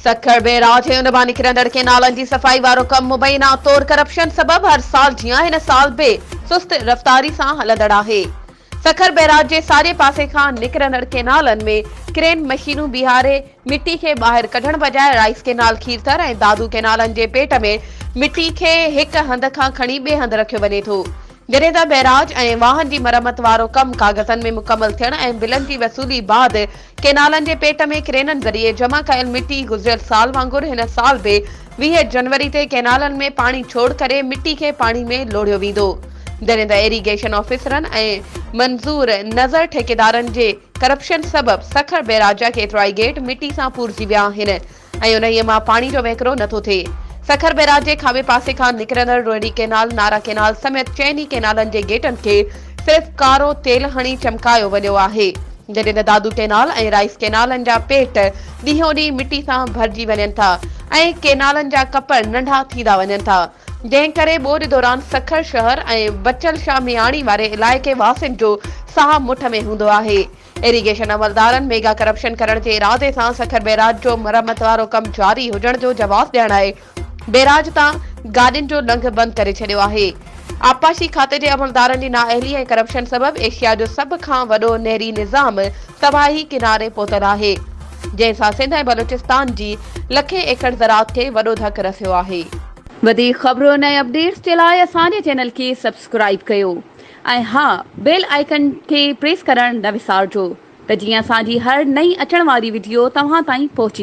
Sukkur barrage ۽ ان مان نڪرندڙ ڪينالن جي صفائي وارو ڪم مبينا طور ڪرپشن سبب هر سال جيان هن سال به سست رفتاري سان هلندڙ آهي سکر بئراج جي ساڄي پاسي کان نڪرندڙ ڪئنالن ۾ ڪرين مشينون بيهاري مٽي کي ٻاهر ڪڍڻ بجاء رائيس ڪئنال کيرٿر ۽ دادو ڪئنالن جي پيٽ ۾ مٽي کي هڪ هنڌ کان کڻي ٻئي هنڌ رکيو وڃي ٿو جڏهن ته بئراج ۽ واهن جي مرمت وارو ڪم ڪاغذن ۾ مڪمل ٿيڻ ۽ بلن جي وصولي بعد ڪينالن جي پيٽ ۾ ڪرينن ذريعي جمع ڪيل مٽي گذريل سال وانگر هن سال به ويهه جنوري تي ڪينالن ۾ پاڻي ڇوڙ ڪري مٽي کي پاڻي ۾ لوڙهيو ويندو جڏهن ته ايريگيشن آفيسرن ۽ منظور نظر ٺيڪيدارن جي ڪرپشن سبب سکر بيراج جا ڪيترائي گيٽ مٽي سان پورجي ويا آهن ۽ انهيء مان پاڻي جو وهڪرو نه ٿو ٿئي. سکر بئراج جي کاٻي پاسي کان نڪرندڙ روهڙي ڪئنال، نارا ڪئنال سميت چئن ئي ڪئنالن جي گيٽن کي صرف ڪارو تيل هڻي چمڪايو وڃيو آهي، جڏهن ته دادو ڪئنال ۽ رائيس ڪئنالن جا پيٽ ڏينهون ڏينهن مٽي سان ڀرجي وڃن ٿا ۽ ڪئنالن جا ڪپڙ ننڍا ٿيندا وڃن ٿا، جنهن ڪري ٻوڏ دوران سکر شهر ۽ بچل شاهه مياڻي واري علائقي واسين جو ساهه مٺ ۾ هوندو آهي. ايريگيشن عملدارن ميگا ڪرپشن ڪرڻ جي ارادي سان سکر بيراج جو مرمت وارو ڪم جاري هجڻ جو جواز ڏيڻ لاء بيراج تان گاڏين جو لنگهه بند ڪري ڇڏيو آهي آبپاشي کاتي جي عملدارن جي نااهلي ۽ ڪرپشن سبب ايشيا جو سڀ کان وڏو نهري نظام تباهي ڪناري پهتل آهي جنهن سان سنڌ ۽ بلوچستان جي لکين ايڪڙ زراعت کي وڏو ڌڪ رسيو آهي. وڌيڪ خبرون ۽ اپڊيٽس جي لاء اسان جي چينل کي سبسڪرائيب ڪيو ۽ ها بيل آئيڪن کي پريس ڪرڻ نه وسارجو ته جيئن اسان جي هر نئين اچڻ واري وڊيو توهان تائين پهچي